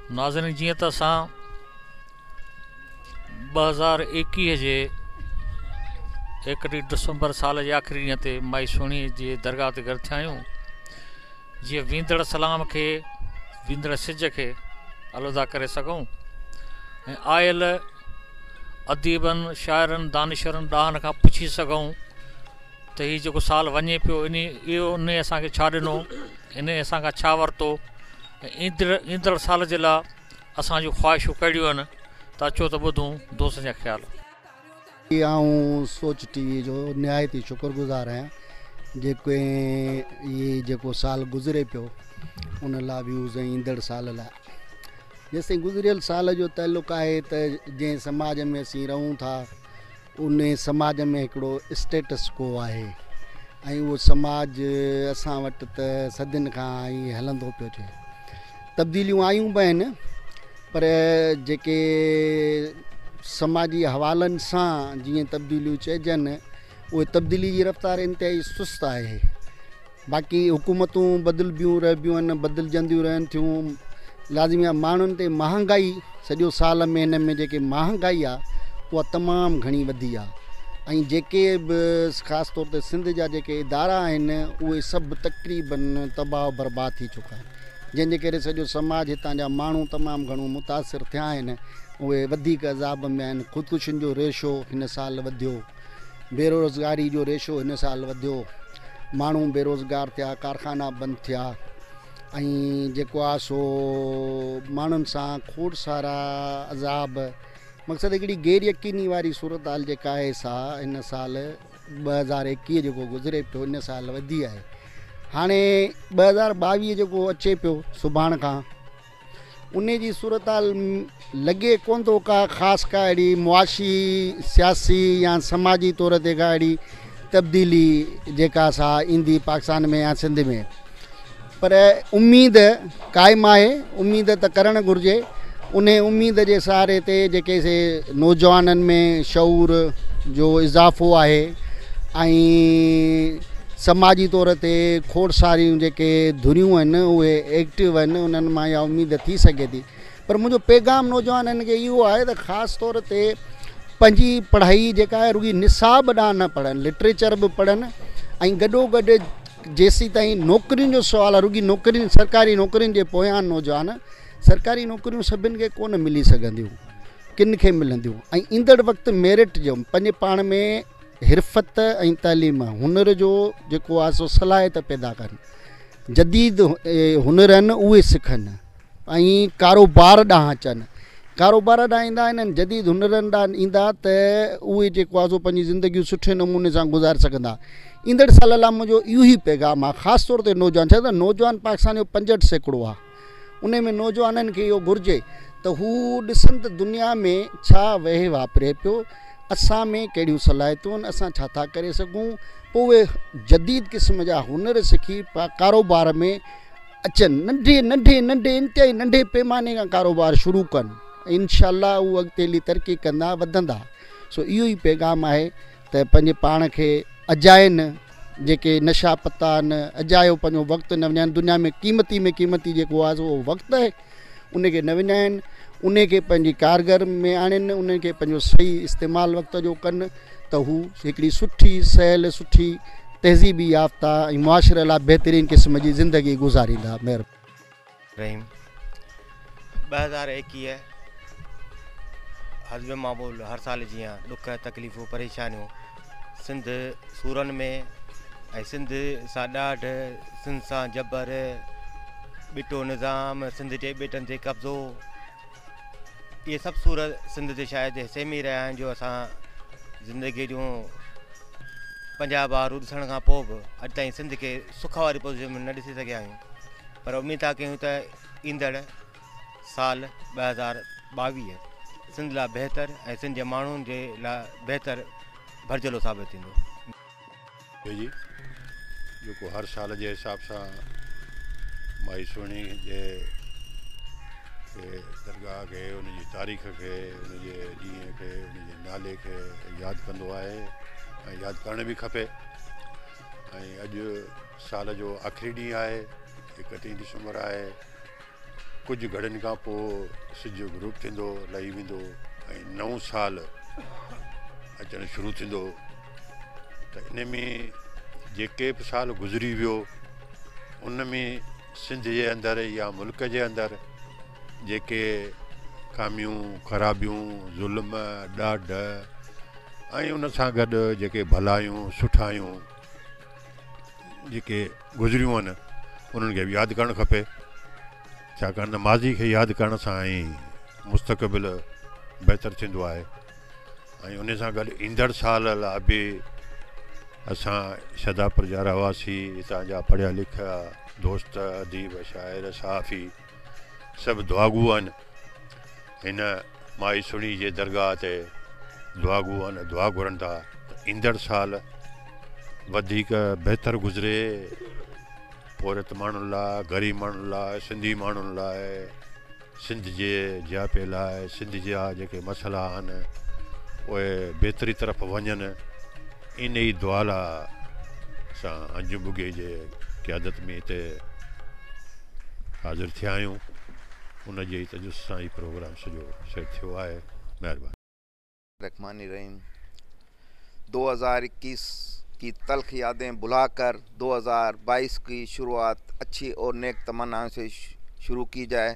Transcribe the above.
ناظرين جيئن ته اسان ٻه هزار ايڪيهه جي ايڪٽيهه ڊسمبر سال جي آخري ڏينهن تي مائي سهڻي جي درگاهه تي گڏ ٿيا آهيون جيئن ويندڙ سلام کي ويندڙ سج کي الوداع ڪري سگهون ۽ آيل اديبن شاعرن دانشورن ڏاهن کان پڇي سگهون ته هي جيڪو سال وڃي پيو انهي اهو انهي اسان کي ڇا ڏنو انهي اسان کان ڇا ورتو ايندڙ ايندڙ سال جي لا اسان جون خواهشون ڪهڙيون هن ته اچو ته ٻڌون دوستن جا خيال. جي آئون سوچ ٽي وي جو نهايت ئي شڪر گذار آهيان جيڪو هي جيڪو سال گذري پيو ان لا ويوز ۽ ايندڙ سال لا جيستائين گذريل سال جو تعلق آهي ته جنهن سماج ۾ اسين رهون ٿا ان سماج ۾ هڪڙو اسٽيٽس ڪو آهي ۽ اهو سماج اسان وٽ ته صدين کان ائين هلندو پيو اچي تبديليون آيون به آهن پر جيڪي سماجي حوالن سان جيئن تبديليون چئجن اهي تبديلي جي رفتار انتهائي سست آهي باقي حڪومتون بدلبيون رهبيون آهن بدلجنديون رهن ٿيون لازمي آهي ماڻهن تي مهانگائي سڄو سال ۾ هن ۾ جيڪي مهانگائي آهي اها تمام گهڻي وڌي آهي ۽ جيڪي به خاص طور تي سنڌ جا جيڪي ادارا آهن اهي سڀ تقريبن تباهه برباد ٿي چڪا آهن جنهن جي ڪري سڄو سماج هتان جا ماڻهو تمام گهڻو متاثر ٿيا آهن اهي وڌيڪ عذاب ۾ آهن خودڪشين جو ريشو هن سال وڌيو بيروزگاري جو ريشو هن سال وڌيو، ماڻهو بيروزگار ٿيا، ڪارخانا بند ٿيا ۽ جيڪو آ سو ماڻهن سان کوڙ سارا عذاب مقصد هڪڙي غير يقيني واري صورتحال جيڪا آهي سا هن سال ٻه هزار ايڪيهه جيڪو گذري پيو ان سال وڌي آهي هاڻي ٻه هزار ٻاويهه جيڪو اچي پيو سڀاڻ کان انهيء جي صورتحال م لڳي ڪونه ٿو ڪا خاص ڪا اهڙي معاشي، سياسي يا سماجي طور تي ڪا اهڙي تبديلي جيڪا سا ايندي پاڪستان ۾ يا سنڌ ۾ پر اميد قائم آهي اميد ته ڪرڻ گهرجي انهي اميد جي سهاري تي جيڪي سي نوجوانن ۾ شعور جو اضافو آهي ۽ سماجي طور تي کوڙ ساريون جيڪي ڌريون آهن اهي ايڪٽو آهن انهن مان اها اميد ٿي سگهي ٿي پر منهنجو پيغام نوجوانن کي اهو آهي ته خاص طور تي پنهنجي پڙهائي جيڪا آهي رڳي نصاب ڏانهن نه پڙهن لٽريچر به پڙهن ۽ گڏو گڏ جيسي تائين نوڪرين جو سوال آهي رڳي نوڪرين سرڪاري نوڪرين جي پويان نوجوان سرڪاري نوڪريون سڀن کي ڪونه ملي سگهنديون ڪن کي ملنديون ۽ ايندڙ وقت ميرٽ جو پنهنجي پاڻ ۾ حرفت ۽ تعليم هنر جو جيڪو آ سو صلاحيت پيدا ڪن جديد هنر آهن اهي سکن ۽ ڪاروبار ڏانهن اچن ڪاروبار ڏانهن ايندا آهن انهن جديد هنرن ڏانهن ايندا ته اهي جيڪو آ سو پنهنجي زندگيون سٺي نموني سان گذار سگهندا ايندڙ سال لا منهنجو اهو ئي پيغام آ خاص طور تي نوجوان ڇا ته نوجوان پاڪستان جو پنجهٺ سيڪڙو آ انهي ۾ نوجوانن کي اهو گهرجي ته هو ڏسن ته دنيا ۾ ڇا وهي واپري پيو، اسان ۾ ڪهڙيون صلاحيتون، اسان ڇا ٿا ڪري سگهون، پوء اهي جديد قسم جا هنر سکي ڪاروبار ۾ اچن، ننڍي ننڍي ننڍي انتهائي ننڍي پيماني کان ڪاروبار شروع ڪن ۽ انشاء الله هو اڳتي هلي ترقي ڪندا، وڌندا سو اهو ئي پيغام آهي. ته پنهنجي پاڻ کي اجائين جيڪي نشا پتا آهن اجايو پنهنجو وقت نه وڃائين دنيا ۾ قيمتي ۾ قيمتي جيڪو آهي اهو وقت آهي ان کي نه وڃائين ان کي پنهنجي ڪارگر ۾ آڻين ان کي پنهنجو صحيح استعمال وقت جو ڪن ته هو هڪڙي سٺي سهل سٺي تهذيبي يافتا ۽ معاشري لاء بهترين قسم جي زندگي گذاريندا مهرباني رحيم ٻه هزار ايڪيهه حزب معمول هر سال جيان ڏک تڪليفون پريشانيون سنڌ سورن ۾ ۽ سنڌ سان ڏاڍ سنڌ سان جبر ٻٽو نظام سنڌ جي ٻيٽن تي قبضو اهي سڀ سور سنڌ تي شايد حصي ۾ رهيا آهن جو اسان زندگي جون پنجاهه بهارون ڏسڻ کان پوء به اڄ تائين سنڌ کي سک واري پوزيشن ۾ نه ڏسي سگهيا آهيون پر اميد ٿا ڪيون ته ايندڙ سال ٻه هزار ٻاويهه سنڌ لاء بهتر ۽ سنڌ جي ماڻهن جي لاء بهتر ڀرجهلو ثابت ٿيندو. جي جي جيڪو هر سال جي حساب سان مائي سهڻي جي کي درگاهه کي ان جي تاريخ کي ان جي ڏينهن کي ان جي نالي کي ياد ڪندو آهي ۽ ياد ڪرڻ به کپي ۽ اڄ سال جو آخري ڏينهن آهي، اڪٽيهين ڊسمبر آهي. ڪجهه گهڙين کان پوء سج غروب ٿيندو، لهي ويندو ۽ نئون سال اچڻ شروع ٿيندو ته ان ۾ جيڪي به سال گذري ويو ان ۾ سنڌ جي اندر يا ملڪ جي اندر جيڪي خاميون، خرابيون، ظلم، ڏاڍ ۽ ان سان گڏ جيڪي ڀلايون، سٺايون. جيڪي گذريون آهن انهن کي به ياد ڪرڻ کپي ڇاڪاڻ ته ماضي کي ياد ڪرڻ سان ئي مستقبل بهتر ٿيندو آهي ۽ ان سان گڏ ايندڙ سال لاء به اسان شھداپور جا رھواسي ھتان جا پڙھيا لکيا دوست اديب شاعر صحافي سڀ دعاگو آھن ھن مائي سھڻي جي درگاھ تي دعاگو آھن دعا گھرن ٿا ته ايندڙ سال وڌيڪ بھتر گذري پورھيت ماڻھن لاء غريب ماڻھن لاء سنڌي ماڻھن لاء سنڌ جي جياپي لاء سنڌ جا جيڪي مسئلا آھن اھي بھتري طرف وڃن انهيء دعاليٰ سان انجم ٻگهي جي قيادت ۾ هتي حاضر ٿيا آهيون، ان جي ئي تجسس سان هي پروگرام سڄو سيٽ ٿيو آهي. مهرباني. الرحمٰن الرحيم دو هزار اڪيس ڪي تلخ يادين بھلا ڪر دو هزار بائيس ڪي شروعات اڇي اور نيڪ تمنائون سي شروع ڪي جائي.